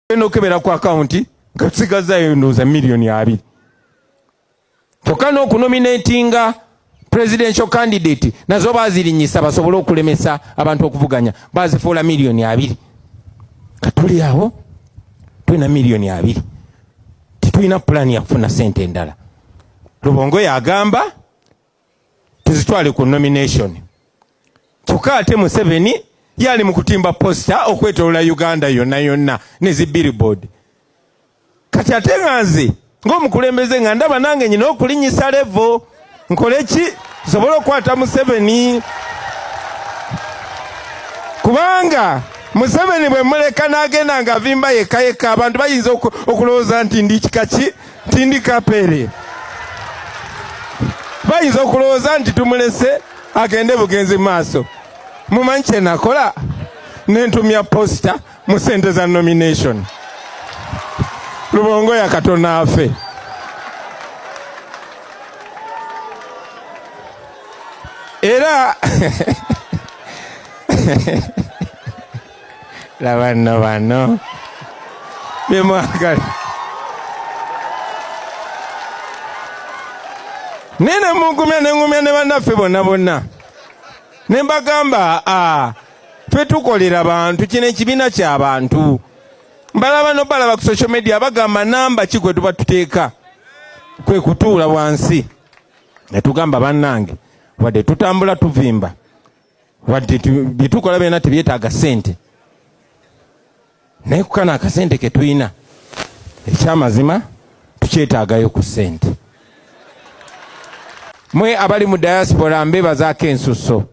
genda okebera ku akawunti nga tusigazzayo ndowooza miliyoni abiri kyokka n'okunominatinga presidential candidate nazo bazirinyisa basobole okulemesa abantu okuvuganya bazifuula miliyoni abiri katuli awo tulina miliyoni abiri tetulina pulaani yakufuna sente endala lubongo yagamba tuzitwale ku nomination kyokka ate museveni yali mu kutimba posita okwetolola uganda yonna yonna ne zi billboard kati ate nga nze ngaomukulembeze nga ndaba nange nyina okulinyisa levo nkole ki nsobole okukwata museveni kubanga museveni bwe muleka n'agenda ng'avimba yekka yekka abantu bayinza okulowooza nti ndi kika ki Cindy Kapere bayinza okulowooza nti tumulese agende bugenzi maaso mumanyi kyenakola nentumya posita mu sente za nomination lubongo yakatona afe era labanno banno byemwagala naye nemugumya nengumya ne bannaffe bonna bonna ne mbagamba fe tukolera bantu kino ekibiina kyabantu mbalaba nobalaba ku social media bagamba namba ki gwe tuba tuteeka kwe kutuula wansi netugamba bannange wadde tutambula tuvimba wadde byetukola byona tebyetaaga sente naye kukana akasente ketulina ekyamazima tukyetaagayo ku sente mwe abali mu diaspora mbebazaako ensusso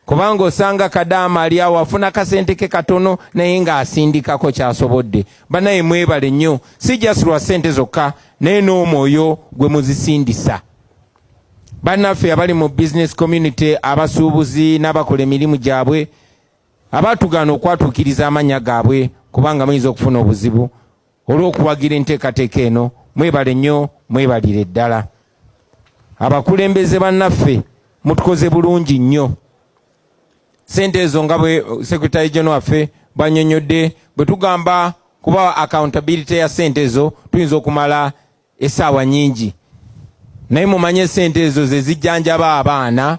kubanga osanga kadaama ali awo afuna kasente ke katono naye ng'asindikako kyasobodde banaye mwebale nnyo si just lwa sente zokka naye n'omwoyo gwe muzisindisa bannaffe abali mu business community abasuubuzi n'abakola emirimu gyabwe abaatugaana okwatuukiriza amannya gaabwe kubanga muyinza okufuna obuzibu olw'okuwagira enteekateeka eno mwebale nnyo mwebalire ddala abakulembeze bannaffe mutukoze bulungi nnyo sente ezo nga bwe sekretary geno waffe banyonyodde bwe tugamba kuba accountability ya sente ezo tuyinza okumala esaawa nyingi naye mumanye sente ezo zezijjanjaba abaana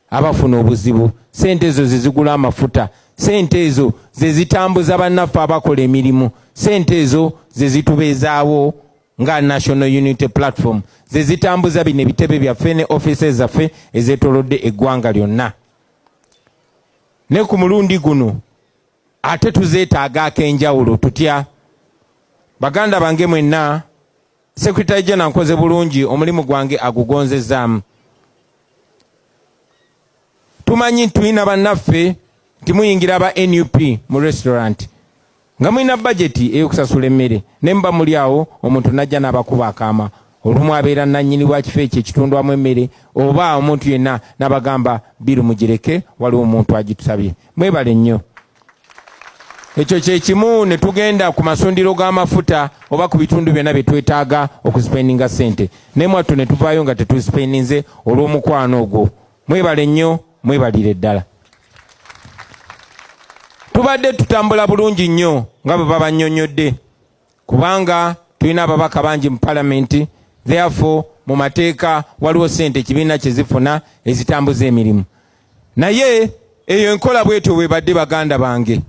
abafuna obuzibu sente ezo zezigula amafuta sente ezo zezitambuza bannaffe abakola emirimu sente ezo zezitubeezaawo nga national unity platform zezitambuza bino ebitebe byaffe ne office zaffe ezetolodde eggwanga lyonna ne ku mulundi guno ate tuzeetaaga ak'enjawulo tutya baganda bange mwenna sekretary jena nkoze bulungi omulimu gwange agugonzezaamu tumanyi tulina bannaffe nti muyingira aba nup mu restaurant nga mulina bajeti eyokusasula emmere naye muba muli awo omuntu najja n'abakuba akaama Olumu abeera nannyini wa kifo ekyo ekitundwamu emmere oba omuntu yenna nabagamba biru mugireke waliwo omuntu agitusabye. Mwebale nnyo. Ekyo kyekimu netugenda ku masundiro g'amafuta oba ku bitundu byonna byetwetaaga okusipeninga ssente naye mwattu netuvaayo nga tetusipeninze olw'omukwano ogwo. Mwebale nnyo mwebalire ddala. Tubadde tutambula bulungi nnyo nga bwe babannyonnyodde. kubanga tulina ababaka bangi mu palamenti therefore mu mateeka waliwo sente ekibiina kyezifuna ezitambuza emirimu naye eyo enkola bwetyo bwebadde baganda bange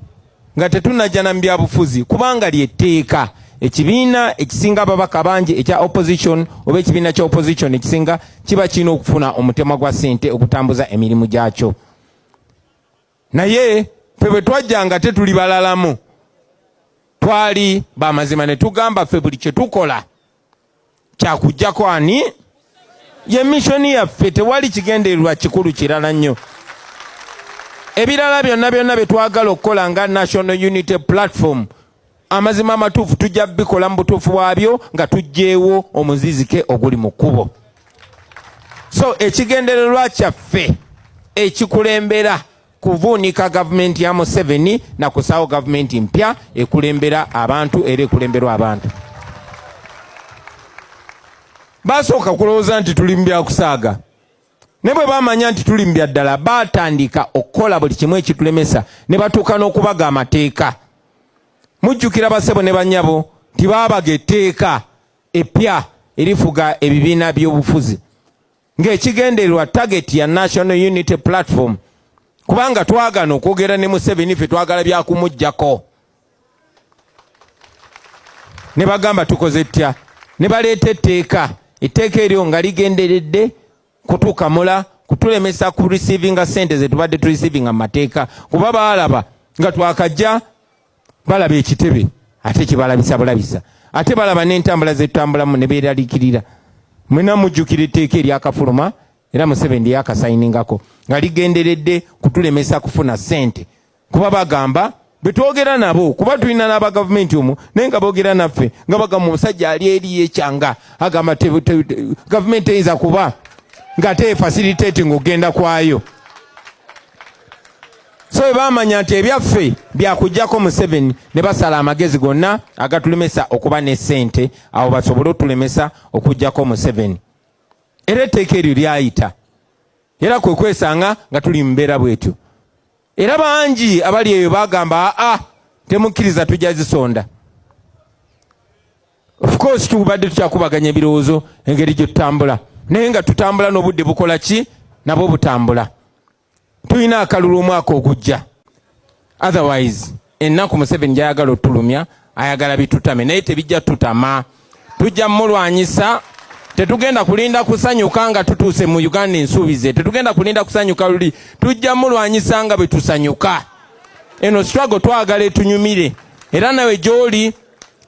nga tetunajana mu byabufuzi kubanga lyetteeka ekibiina ekisinga ababaka bangi ekya opposition oba ekibiina kya opposition ekisinga kiba kirina okufuna omutemwa gwa sente okutambuza emirimu gyakyo naye ffe bwe twajja nga tetuli balalamu twali bamazima ne tugamba ffe buli kye tukola kyakujjako ani ye mishoni yaffe tewali kigendererwa kikulu kirala nnyo ebirala byonna byonna bye twagala okukola nga national unity platform amazima amatuufu tujja bikola mu butuufu bwabyo nga tujjeewo omuzizike oguli mu kkubo so ekigendererwa kyaffe ekikulembera kuvuunika gavumenti ya museveni na kusaawo gavumenti mpya ekulembera abantu era ekulemberwa abantu basooka kulowooza nti tuli mu byakusaaga ne bwe bamanya nti tuli mu byaddala baatandika okukola buli kimu ekitulemesa ne batuuka n'okubaga amateeka mujjukira basebo ne banyabo nti baabaga etteeka eppya erifuga ebibiina by'obufuzi ng'ekigendererwa target ya national unity platform kubanga twagana okwogera ne museveni ffe twagala byakumujjako ne bagamba tukoze ttya ne baleeta etteeka etteeka eryo nga ligenderedde kutuuka mula kutulemesa ku receivinga sente zetubadde tu receivinga mu mateeka kuba baalaba nga twakajja balaba ekitebe ate kyebalabisa bulabisa ate balaba n'entambula zetutambulamu ne beeralikirira mwena mujjukira etteeka eryakafuluma era museveni lyeyakasayiningako nga ligenderedde kutulemesa kufuna sente kuba bagamba betwogera nabo kuba tulina n'aba gavumenti omu naye nga boogera naffe nga bagamba omusajja ali eri yekyanga agamba gavumenti eyinza kuba nga teefasiliteti ngaogenda kwayo so bwe bamanya nti ebyaffe byakugjako museveni ne basala amagezi gonna agatulemesa okuba ne ssente awo basobole otulemesa okugjako museveni era etteeka eryo lyayita era kwe kwesanga nga tuli mumbeera bwetyo Era bangi abali eyo bagamba aa ah, temukkiriza tujja zisonda of course tubadde tukyakubaganya ebirowoozo engeri gye tutambula naye nga tutambula n'obudde bukola ki nabwo butambula tulina akalulu omwaka ogujja otherwise Ennaku Museveni gy'ayagala otulumya ayagala bitutame naye tebijja tutama, tujja mulwanyisa. Tetugenda kulinda kusanyuka nga tutuuse mu Uganda ensuubize, tetugenda kulinda kusanyuka luli, tujja mulwanyisa nga bwe tusanyuka. Eno struggle twagala etunyumire, era nawe gy'oli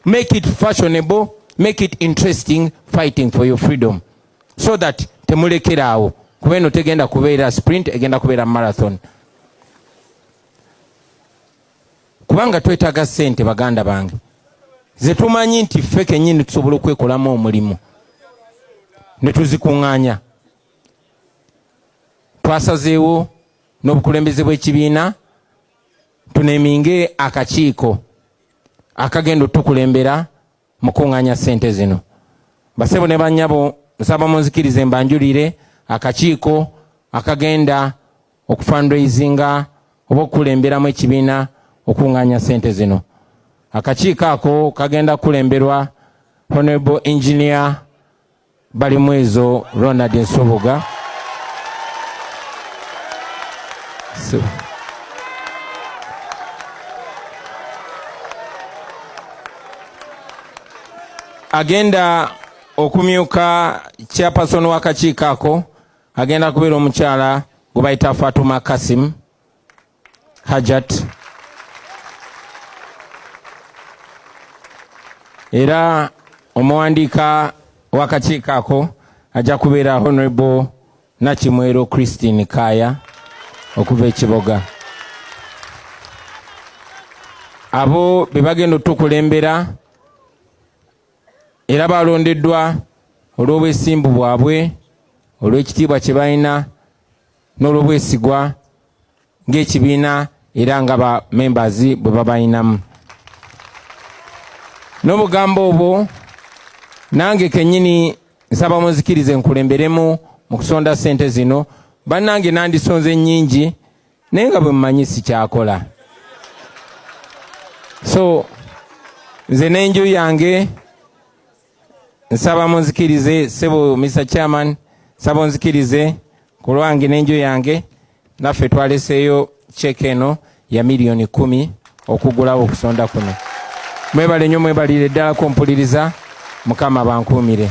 make it fashionable, make it interesting fighting for your freedom so that temulekera awo kuba eno tegenda kubeera sprint, egenda kubeera marathon. kubanga twetaaga sente baganda bange zetumanyi nti ffe kenyini tusobola okwekolamu omulimu netuzikuŋŋanya twasazeewo n'obukulembeze bw'ekibiina tuneminge akakiiko akagenda otukulembera mukunganya sente zino basebo ne banyabo nsaba munzikirize mbanjulire akakiiko akagenda okufundraisinga oba okukulemberamu ekibiina okunganya sente zino akakiiko ako kagenda kukulemberwa honorable engineer Balimwezo Ronald Nsubuga so. agenda okumyuka chairperson w'akakiiko ako agenda kubeera omukyala gwe bayita Fatuma Kasim hajat era omuwandiika w'akakiiko ako ajja kubeera honorable nakimwero christine kaaya okuva ekiboga abo be bagenda otukulembera era balondeddwa olw'obwesimbu bwabwe olw'ekitiibwa kye balina n'olwobwesigwa ng'ekibiina era nga ba members bwe babalinamu n'obugambo obwo nange kenyini nsaba munzikirize nkulemberemu mu kusonda sente zino bannange nandisonze nnyingi naye nga bwe mumanyi sikyakola so nze n'enju yange nsaba munzikirize sebo Mr Chairman nsaba onzikirize ku lwange n'enju yange naffe twaleseeyo check eno ya miliyoni kumi okugulawo okusonda kuno mwebale nnyo mwebalire ddala kumpuliriza mukama bankuumire